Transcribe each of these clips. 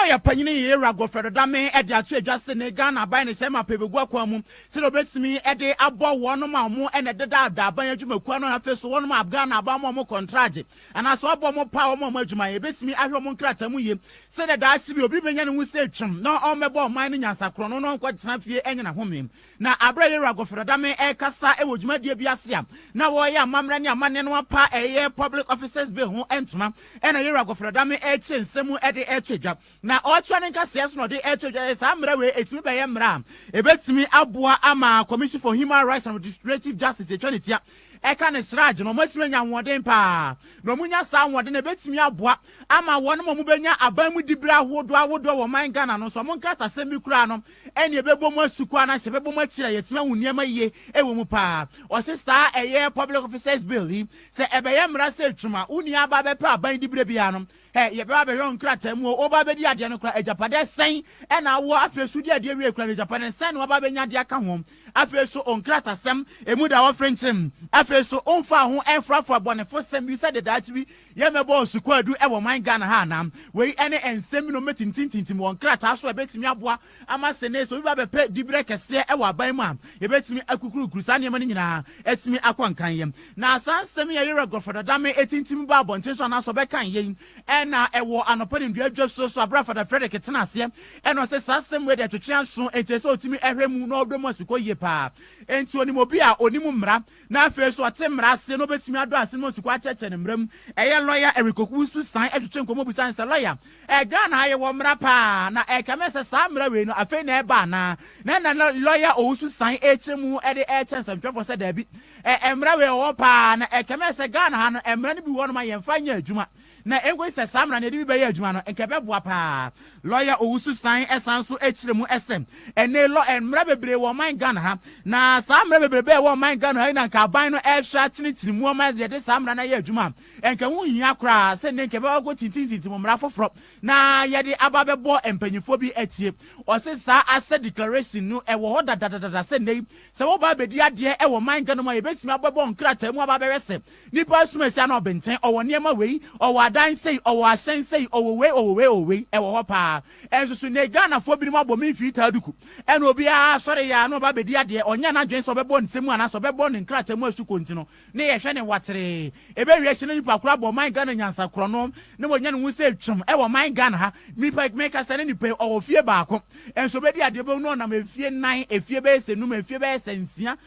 Ana ɔyɛ panyin yi, Ewura Godfred Dame de ato edwa se ne Ghana aban ne hyɛmma pɛ begu akwan mu sɛdeɛ obetumi de abɔ wɔnom a wɔn na ɛdeda da aban adwumakuo ano na afei so wɔnom a Ghana aban ama wɔn kɔntragye anaa se wabɔ wɔn paa wɔn a wɔn adwumayɛ betumi ahwɛ wɔn nkrataa mu yie sɛdeɛ daakye bi obi benya ne ho se twem na ɔmmɛbɔ ɔman no nyansa korɔno na ɔnkɔtena fie nyina homee Na bere a Yera Goferadame rekasa wɔ dwumadie bi ase a na wɔreyɛ amammerɛ ne amanneɛ no apa a ɛyɛ Public Officers Bill ho ntoma na Yera Goferadame rekyerɛ nsɛm mu de reto dwa. Na ɔretoa ne nkasɛɛ so na ɔde reto dwa sɛ saa mmara wei ɛtumi bɛyɛ mmara a ɛbɛtumi aboa ama Commission for Human Rights and Restorative Justice ɛtwa ne tia ɛka ne sraagye no wɔatumi anya ahoɔden pa ara. Na wɔnya saa ahoɔden no a ɛbɛtumi aboa ama wɔnom a wɔbɛnya aban mu dibere ahodoɔ ahodoɔ wɔ ɔman Ghana no nso wɔn nkratasɛm bi koraa no ɛnneɛ ɛbɛbɔ mu asu kwa anaasɛ ɛbɛbɔ mu akyiri a yɛatumi ahu nneɛma yie wɔ mu pa ara. Ɔse saa ɛyɛ Public Officers Bill yi, sɛ ɛbɛyɛ mmara sɛ atwam a, wo nua aba abɛpɛ aban di berɛ biara no, ɛ, yɛbɛba abɛhwɛ wo nkrataa mu o, woba abɛdi adeɛ no koraa, agyapadeɛ sɛn na wowɔ, afei nso wodi adeɛ wie koraa no, agyapadeɛ sɛn na woaba abɛnya de aka ho, afei nso wo nkratasɛm, ɛmu da hɔ frenkyemm, afei nso womfaa ho ɛmfrafraa bɔnefosɛm bi sɛ dedaakye bi Yɛ mɛbɔ nsu kwaadu wɔ man Ghana ha anaa? Wei ne nsɛm bi na wɔbɛtintimtintim wɔ nkrataa so a ɛbɛtumi aboa ama sene sɛ obi ba bɛpɛ diberɛ kɛseɛ wɔ aban mu a, yɛbɛtumi akukurukuru saa nneɛma no nyinaa atumi akɔ nkanyɛ. Na saa nsɛm yi a Yɛwura Gɔfrɔ Dadame atintim baa abɔnten so anaasɛ ɔbɛkan yei na ɛwɔ anɔpa ne nnua dwasuo so aberɛ a Fada Frederick tena aseɛ na ɔse saa asɛm wei deɛ twetwe anso enti ɛsɛ ɔtumi hwɛ mu na ɔdɔ mu asukɔ yie paa enti ɔnim obi a ɔnim mmara na afei nso ɔte mmara ase na obetumi adɔ ase no mu asukɔ akyerɛkyerɛ ne mmara mu. Ɛyɛ lɔya Eric Owusu san twetwe nkɔmmɔ bisae no sɛ, Lɔya, ɛ Ghana ha yɛwɔ mmara paa, na ɛrekame sɛ saa mmara wei no afei na ɛreba anaa? Na ɛnna na lɔya Owusu san rekyerɛ mu de rekyerɛ nsɛntwerɛfoɔ sɛ daabi, ɛ mmara wei ɔwɔ paa, na ɛrekame sɛ Ghana ha no mmara no bi wɔ hɔ nom a yɛmfa nyɛ adwuma. na enkosi sɛ saa mmara no yɛde bi bɛyɛ adwuma no, nka ɛbɛboa paa. Lɔya Owusu san san nso kyerɛ mu sɛ, Ɛnnɛ lɔ mmara bebree wɔ ɔman Ghana ha, na saa mmara bebrebe a ɛwɔ ɔman Ghana ha yi na nka aban no rehwɛ atenetene mu ama yɛde saa mmara no ayɛ adwuma a, nka ɛho hia koraa sɛ nnɛ nka yɛbɛba abɛkɔtintimtintim mmara foforɔ na yɛde aba abɛbɔ mpanyimfoɔ bi atie. Ɔse saa asɛ declaration no ɛwɔ hɔ dadadadada sɛ nnɛ yi sɛ woba abɛdi adeɛ wɔ ɔman Ghana mu a yɛbɛtumi abɛbɔ nkrataa mu aba abɛhwɛ sɛ Nipa asum asi ano ɔbenten, ɔwɔ nneɛma wei, ɔwɔ adan sei, ɔwɔ ahyɛn sei, ɔwɔ wei, ɔwɔ wei, ɔwɔ wei, ɛwɔ hɔ paa. Ɛnso so nnɛ Ghanafoɔ binom abɔ me mfiritaa duku, ɛna obiara asɔre yɛ a na ɔba abɛdi adeɛ, ɔnyɛ n'adwene sɛ ɔbɛbɔ nsɛm mu anaasɛ ɔbɛbɔ ne nkrataa mu asu konti no, na yɛhwɛ no wateree. Ɛbɛwie akyire no nipa koro abɔ ɔman Ghana nyansa korɔno, na wanya ne ho sɛ twam ɛwɔ ɔman Ghana ha. Nipa yi, meka sɛ ne nipa yi, ɔwɔ fie baako, ɛnso ɔbɛdi adeɛ, wobɛhu no ɔnam mfie nnan, mfie bɛyɛ sɛ num, mfie bɛyɛ sɛ nsia,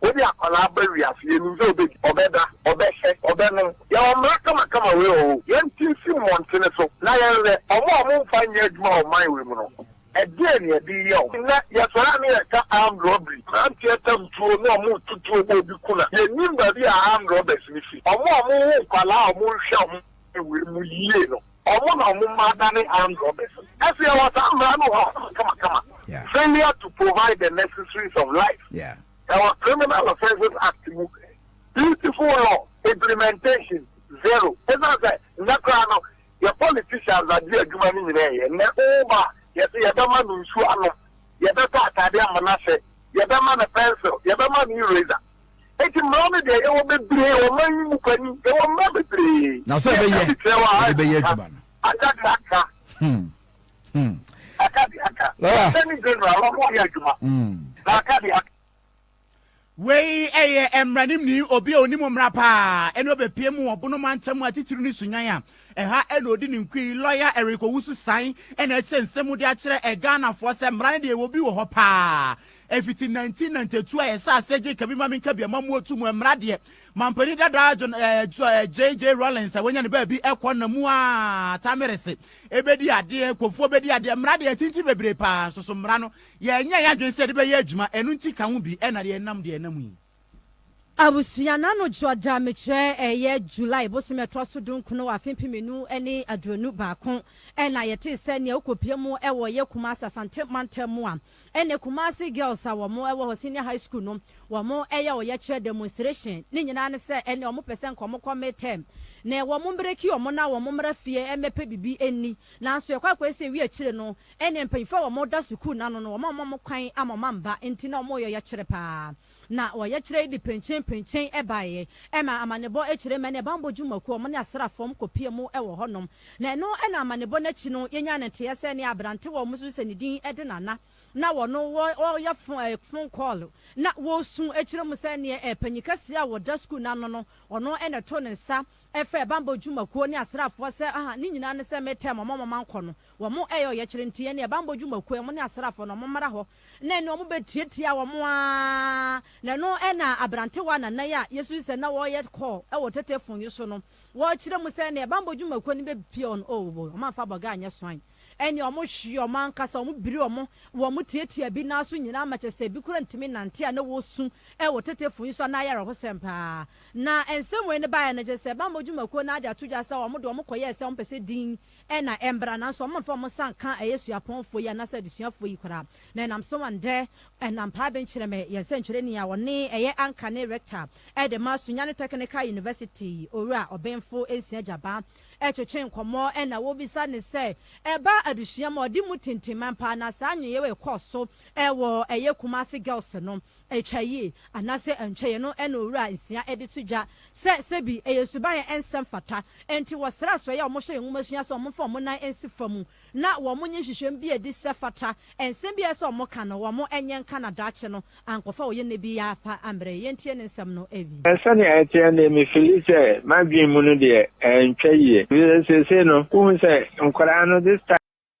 Wode akwadaa aba wiase, yɛnim sɛ ɔbɛdi, ɔbɛda, ɔbɛhyɛ, ɔbɛnom. Yɛwɔ mmara kamakama wei wɔ hɔ o, yɛnte nsi mmɔntene so na yɛnhwɛ wɔn a wɔmfa nyɛ adwuma wɔ ɔman wei mu no, ɛdeɛn na yɛde reyɛ wɔn? Nnɛ, yɛsɔre a na yɛreka armed robbery, mmeranteɛ tam tuo na wɔretu tuo ma obi ku no a, yɛnnim baabi a armed robbers no firi. Wɔn a wɔwo nkwadaa a wɔnhwɛ wɔn wɔ ɔman wei mu yie no, Wɔn na wɔn mma adane armed robbers. Ɛsɛ yɛwɔ saa mmara no wɔ hɔ ma kamakama. Failure to provide the necessaries of life ɛwɔ Criminal Offences Act mu. Beautiful law, implementation zero. Ɛsiane sɛ nnɛ koraa no yɛ politicians na de adwuma no nyinaa yɛ. Nnɛ wo ba a, yɛse yɛbɛma no nsuo anom, yɛbɛtɔ atadeɛ ama no ahyɛ, yɛbɛma no pencil, yɛbɛma no eraser. Enti mmara no deɛ, yɛwɔ bebree wɔ ɔman yi mu panin, yɛwɔ mmara bebree. Na sɛ ɛbɛyɛ, yɛde bɛyɛ adwuma no. Aka de aka. Hmm. Hmm. Aka de aka. Lɔya. Attorney General, wɔn yɛ adwuma. Hmm. Na aka de aka. Wei ɛyɛ mmaranimni obi a onim mmara paa ɛne ɔbɛpie mu wɔ Bono mantam mu atitiriw ne Sunyani a ɛha ɛna odi ne nkui lɔya Eric Owusu San ɛna ɛkyerɛ nsɛm mu de akyerɛ ɛghanafoɔ sɛ mmara no deɛ ɛwɔ bi wɔ hɔ paa Ɛfiti 1992 a yɛhyɛ aseɛ gye kabi ma me nka bi ɛma mu ɔtu mu ɛmmra deɛ mampanin dadaa John ɛɛ JJ Rawlings a wanya ne baabi ɛkɔ na mu a Tamerese ɛbɛdi adeɛ Kofoɔ bɛdi adeɛ mmra deɛ atinti bebree paa nso so mmra no yɛnyɛ yɛn adwene sɛ yɛde bɛyɛ adwuma ɛno nti ka ho bi ɛna deɛ ɛnam deɛ ɛnam yi Abusua no ano dwo da mekyerɛ ɛyɛ July bosome a ɛtoa so dunkron wɔ afe mpem nnum ne aduonu baako na yɛtee sɛ nea wokɔpue mu wɔ yɛ Kumasi Asante mantam mu a ɛnnɛ Kumasi Girls a wɔn wɔ hɔ senior high school no wɔn yɛ ɔyɛkyerɛ demonstration ne nyinaa ne sɛ ɛnnɛ wɔn pɛ sɛ nka wɔn kɔ mid term na wɔn mbreki wɔn na wɔn mmra fie mmɛpɛ bibi nni nanso yɛkɔ akɔɛ sɛ wie akyire no Ɛne mpanyinfo a wɔn da sukuu no ano no wɔn a wɔma wɔn kwan ama wɔn mma nti na wɔn yɛ ɔyɛkyerɛ paa. Na ɔyɛkyerɛ yi de pɛnkyen pɛnkyen baeɛ. Ɛma amanebɔ akyire mmɛ ne banbɔ dwumakuo wɔn ne asraafoɔ wɔn kɔ pie mu wɔ hɔ nom. Na ɛno na amanebɔ no akyi no yɛnyaa no nteɛ sɛ nea abrantewa a wɔn susu sɛ ne din de Nana na wɔno wɔyɛ phone call na wɔresu kyerɛ mu sɛ neɛ panyin kɛseɛ a ɔda sukuu no ano no ɔno na ɛtoo ne nsa frɛɛ banbɔ dwumakuo ne asraafoɔ sɛ ne nyinaa ne sɛ me term wɔn a wɔn ankɔ no Wɔyɛ ɔyɛkyerɛ nti yɛne yɛn bammɔ dwumakuo a wɔne asraafoɔ no wɔmmra hɔ na ɛne wɔn bɛtiatia wɔn ara na ɛno na aberantewa nnanan a yɛsusu sɛ na wɔyɛ call wɔ tetefon yi so no wɔkyerɛ mu sɛ ɛne yɛn bammɔ dwumakuo no bɛpia wɔn oh wɔn amfa bɔga anyɛ swan ɛne wɔn hwe wɔn ankasa wɔn biri wɔn wɔn tiatia bi nan so nyinaa ma kyɛ sɛ bi kora ntumi nante a na wɔsu wɔ tetefon yi so a na ayɛ awerɛhosɛm paa na nsɛm wei no baeɛ no kyɛ sɛ bammɔ dwumakuo no ade ato dwa sɛ wɔn de wɔn kɔyɛɛ sɛ wɔn pɛ sɛ din Ɛna ɛmbra nanso ɔmo mfa ɔmo nsa nka ɛyɛ suapɔnfoɔ yi anaasɛ adesuafoɔ yi koraa. Na ɛnam so a ndɛ ɛnam paa bɛnkyerɛmɛ yɛn sɛnkyerɛni a ɔne ɛyɛ anka ne rector ɛde ma Sunyani Technical University Owura Ɔbenfo Nsia Gyabaa ɛtwetwe nkɔmɔ ɛna wɔbisa ne sɛ ɛba adesua mu a ɔde mu tintiman paa na saa nyeyewa yi kɔɔ so ɛwɔ ɛyɛ Kumasi Girls no Atwa yi, anaasɛ antwa yi no na Owura nsia de to dwa sɛ sɛ bi yɛn suban a ɛnsɛ mfata nti wɔsrɛ asoɛe a wɔhyɛ yɛn nwomasua sɛ wɔmfa wɔn nan nsi fam na wɔnyɛ nhwehwɛmu bi adi sɛ fata nsɛm bi a ɛsɛ sɛ wɔka no wɔnyɛ nka na daakye no ankɔfa ɔyɛ nnɛ bi yɛafa mmerɛ yi yɛntie ne nsɛm no awie. Sɛnea ɛteɛ no deɛ, mefili sɛ m'adwene mu no deɛ, antwa yie. Efisɛ seesei no, wohu sɛ nkwadaa no this time.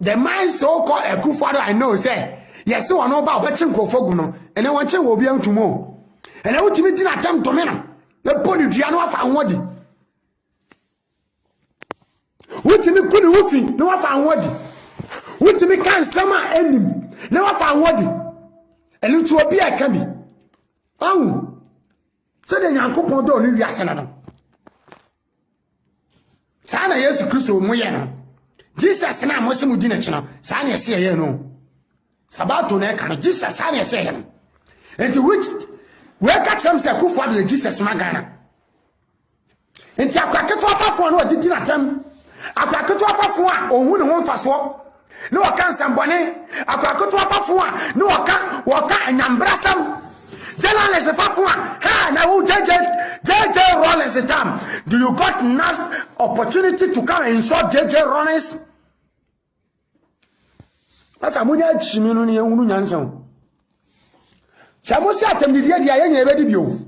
The man so called Akufo-Addo I know sɛ yɛse wɔn no ba ɔbɛkye nkurɔfoɔ gu no ɛnɛ wɔn kye wɔ obi antum o ɛnɛ wotumi gyina atɛm tome no bɛbɔ ne dua no afa ho adi wotumi ku ne ho fi na wafa ho adi wotumi ka nsɛm a ɛnim na wafa ho adi ɛno nti obi a ɛka bi ɔhu Sɛdeɛ Nyankopɔn dɔɔ ne wiase no no, saa na Yesu Kristo mo yɛ no. Jesus no a mo se mo di n'akyi no, saa na ɛsɛ yɛyɛ no. Sabato na ɛka no, Jesus saa na ɛsɛ yɛ no. Nti which wɔka kyerɛ m sɛ Kufuor deɛ Jesus ma Ghana. Nti akora ketewa fafoɔ na ɔde di n'atɛm. Akora ketewa fafoɔ a ɔnhu ne ho mfasoɔ na ɔka nsɛmbɔne. Akora ketewa fafoɔ a na ɔka ɔka anyambrasɛm. Journalist fafoɔ a ha na wo JJ JJ Rollins tam. Do you got next opportunity to come and insult JJ Rollins? Pastor, mo nyɛ akyimi no ne ehunu nyansa o. Sɛ mo se atɛmdidie deɛ yɛ nyina ɛbɛdi bio.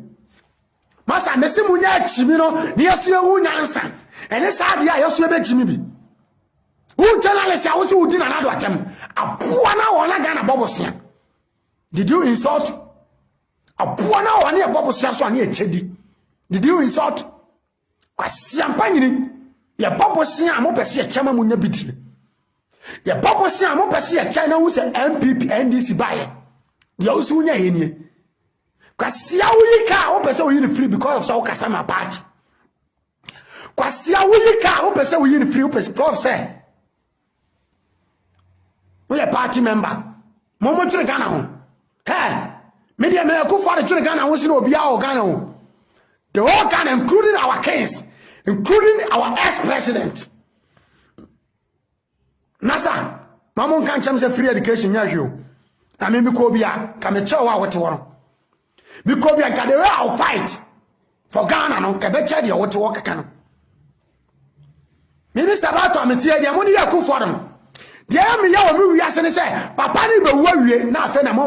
Masa me se mo nyɛ akyimi no ne yɛ so ehu nyansa. Ɛne saa deɛ a yɛ so ɛbɛkyimi bi. Wo journalist a wo se wo di nanado atɛm. Aboa na wɔn na Ghana bɔbo sea. Did you insult? Aboa na wɔn ne ɛbɔbo sea so a ne ɛkyɛ di. Did you insult? Kwasiampa nyini yɛbɔ bosea a mopɛ sɛ yɛkyɛ ma monya bi die yɛbɔ bosea a mopɛ sɛ yɛkyɛ na hu sɛ npp ndc baeɛ deɛ wo so wonya yɛ nie kwasia woyi ka a wopɛ sɛ woyi no firi because of sɛ wokasa ma party kwasia woyi ka a wopɛ sɛ woyi no firi because of sɛ woyɛ party member mo mo dwene ghana ho hɛ me deɛ meyɛ kufoɔ de dwene ghana ho sene obiara wɔ ghana ho the whole ghana including our kings including our ex president na sa ma mo nka nkyɛm sɛ free education nyɛ hwee o na me mekɔ bi a ka mekyɛ wo a wote hɔ no Mekɔ bia Gadere I'll fight for Ghana no ɛbɛkyɛ deɛ wote hɔ keka no. Me ne Sabato a meteɛ deɛ mo ne yɛ akufoɔ no. Deɛ meyɛ wɔ me wiase ne sɛ papa ne bɛwu awie na afei na mo